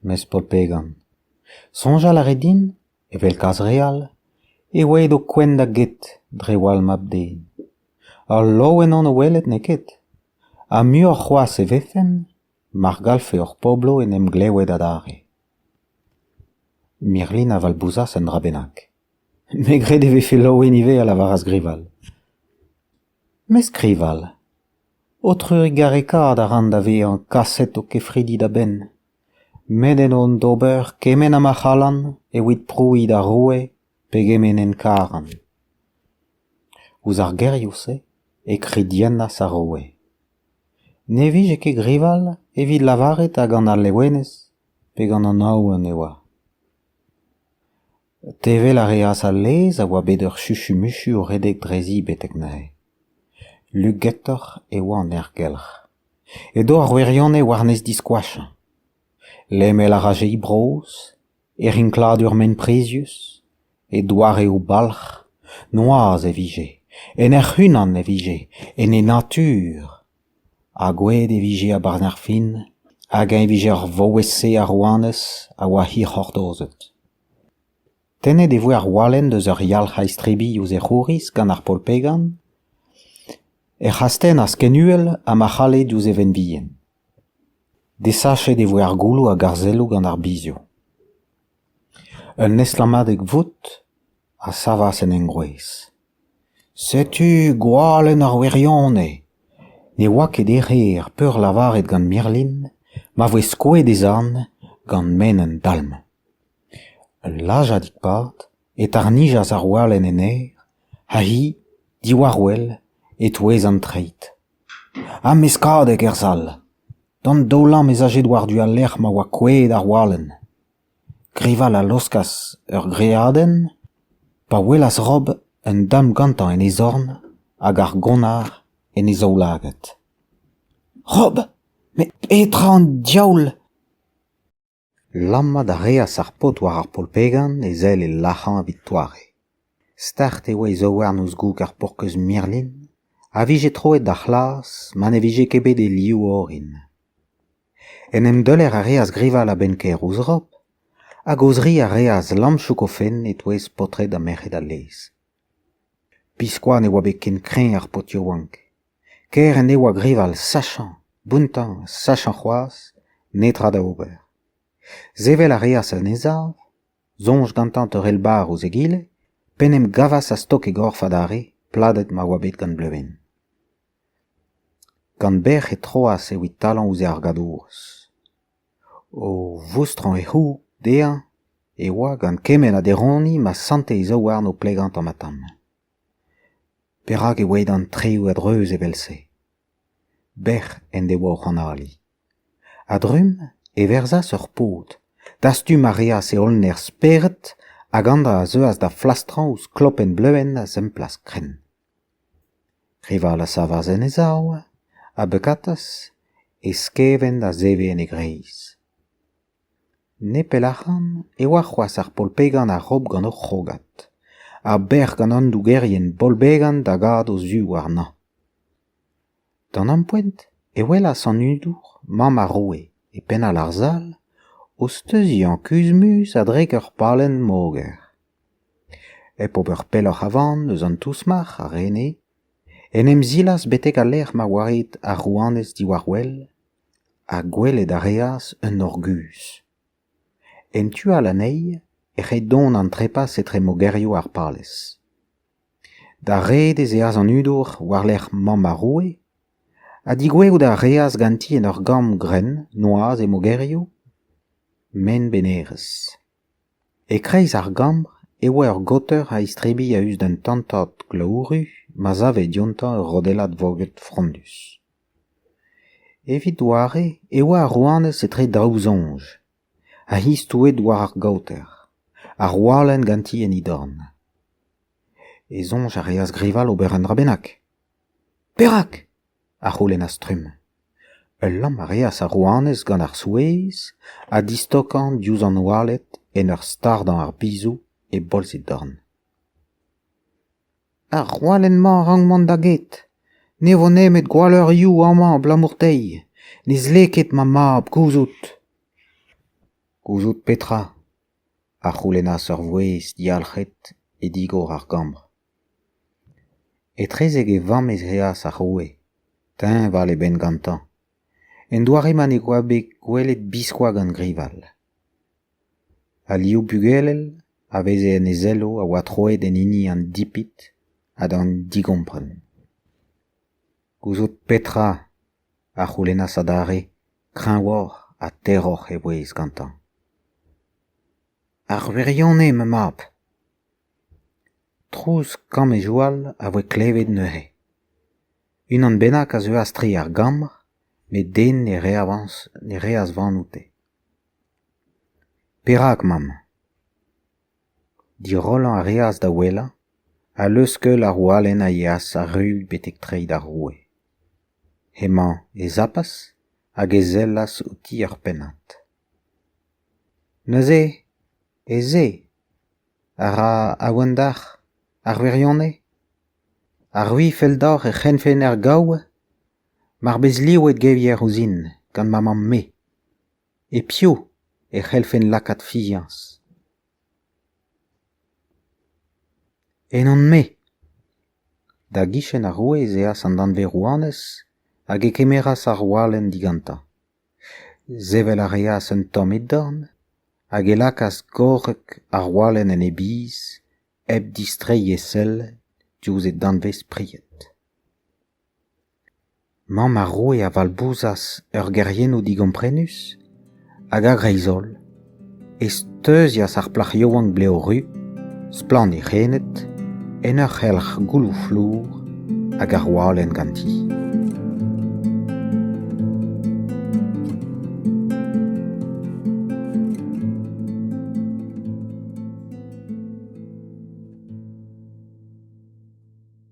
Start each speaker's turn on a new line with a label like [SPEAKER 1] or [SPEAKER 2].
[SPEAKER 1] Mez paotr Began, soñjal a rez din, evel kalz re all, eo aet ho kouent da get dre wall mab-den. Al loen on o welet n'eo ket. Ha muioc'h c'hoazh e vefen mar gallfe ur poblo en em glewet adarre. Mirlin a valbouzas un dra bennak. Me gred e vefe Loen ivez, a lavaras Grival. Me skrival. Ho trugarekaat a ran da vezañ kaset ho kefridi da benn. Met en on d'ober kement ha ma c'hallan evit prouiñ d'ar roue pegement en karan. Ouzh ar gerioù-se e kridiennas ar roue. Ne vije ket grival evit lavaret hag an Alewenez pe gant an Aoun e oa. Tevel a reas al laezh a oa bet ur chuchumuchu o redek drezi betek neuze. Lugetoc'h e oa an aergelc'h. Edo ar wirionez war-nes diskoachañ. Lemel a raje he brozh, he rinkladur ment-prizius, he doareoù-balc'h. Noazh e vije, en hec'h-unan e vije, en he natur. Ha gouet e vije a-berzh ar fin, hag eñ e vije ur vaouez-se a rouanez a oa hirc'hortozet. Tennet e voe ar walenn eus ur yalc'h a-istrebilh ouzh e c'houriz gant ar polpegan, ec'h astennas ken uhel ha ma c'halle diouzh e vent bihan. Desachet e voe ar goullo hag ar selloù gant ar bizioù. Un estlammadeg vout a savas en engroez. Setu gwalenn ar wirionez. Ne oa ket erru ar peurlavaret gant Merlin ma voe skoet e zorn gant menn an dalm. Ul lazhadig-pad e tarnijas ar walenn en aer ha hi, diwar-wel, e-touez an treid. Ha meskadeg er sal. D'an daoulamm ez aje war-du al lec'h ma oa kouezhet ar walenn. Grival a laoskas ur greadenn pa welas Rob un damm gantañ en e zorn hag ar gonnar en e zaoulagad. Rob, met petra an diaoul ? Lammat a reas ar paotr war ar polpegan e sell e lac'hañ evit doare. Start e oa e zaouarn ouzh goug ar porkeuz mirlin a vije troet da c'hlas ma ne vije ket bet e liv orin. En em deuler a reas grival a-benn kaer ouzh Rob, hag o-zri a reas lamm Choukofenn e-touez paotred ha merc'hed al lez. Biskoazh ne oa bet ken kreñv ar paotr yaouank. Ker en devoa grival sachañ, bountañ, sachañ c'hoazh, netra da ober. Sevel a reas en e sav, soñj gantañ teurel barr ouzh egile, p'en em gavas a-stok e gorf adarre, pladet ma oa bet gant Bleuven. Gant bec'h e troas evit talañ ouzh e argadoz. O voustrañ e c'houg dezhañ e oa gant kement ha deroniñ ma sante e zaouarn o plegañ tamm-ha-tamm. Perak e oe d'an traoù a-dreuz evel-se ? Bec'h en devoa o c'hanaliñ. A-drumm e verzas ur paotr. Dastum a reas e holl nerzh-spered hag anzañ a zeuas da flastrañ ouzh klopenn-bleuenn a zemplaz-krenn. Rival a savas en e sav, a beukatas e skevent a zeve en e greiz. Nepell ac'han e oa c'hoazh ar polpegan a-raok gant o c'hrogad, a-bec'h gant an dougerien bolbegan da gad o zu warnañ. D'an ampoent e welas an hudour, mamm ar roue, e penn-all ar sal, o steuziañ kuzh-muz a-drek ur palenn moger. Hep ober pelloc'h avan eus an tousmac'h a rene, en em zilas betek al lec'h ma oa ret ar rouanez diwar-wel, ha gwelet a reas un nor guzh. En tu all anezhi ec'h eo dont an trepas etre mogerioù ar palez. D'ar red ez eas an hudour war-lerc'h mamm ar roue ha digwezout a reas ganti en ur gambr grenn noazh he mogerioù ment-benerezh. E-kreiz ar gambr e oa ur gaoter a istrebilh a-us d'un tantad glaouru ma save diontañ ur rodellad voged frondus. Evit doare e oa ar rouanez etre daou soñj. ha hi stouet war ar gaoter, ha Roalenn ganti en he dorn. E soñj a reas Grival ober un dra bennak. Perak ? a c'houlennas trumm. Ul lamm a reas ar rouanez gant ar souezh ha distokañ diouzh an oaled en ur stardañ ar bizou e bolz he dorn. Ar chalenn-mañ a rank mont da get. Ne vo nemet gwalleurioù amañ abalamour dezhi. Ne zle ket ma mab gouzout. Gouzout petra ? a c'houlennas ur vouezh diyalc'het e digor ar gambr. Etrezek e vamm ez eas ar roue, teñval e benn gantañ. En doare ma ne oa bet gwelet biskoazh gant grival. Al liv bugel a veze en e sello a oa troet en hini an dipit ha d'an digompren. Gouzout petra a c'houlennas adarre kreñvoc'h ha terroc'h e vouezh gantañ. Ar wirionez, ma mab ! Trouz kamm e joal a voe klevet neuze. Unan bennak a zeuas tre ar gambr, met den ne reas van oute. Perak, mamm ? Dirollañ a reas da ouelañ ha leuskeul ar walenn a yeas arru betek treiñ d'ar roue. Hemañ e zapas hag e sellas outi er pennad. Neuze, ez eo a ra aouandac'h ar wirionez ? Ar wi fell deoc'h e c'hennfen er gaou ? mar bez livet gevier ouzhin gant ma mamm-me e piv e c'hellfen lakaat fiziañs ennon-me da gichen ar roue ez eas an danvez-rouanez hag e kemeras ar walenn digantañ sevel a reas un tamm e dorn hag e lakaas gorrek ar walenn en e biz hep distreiñ e sell diouzh e danvez-pried Mamm ar roue a valbouzas ur geriennoù digomprenus hag a-greiz-holl e steuzias ar plac'h yaouank blev ru, splann he c'hened, en ur c'helc'h gouloù flour hag ar walenn ganti.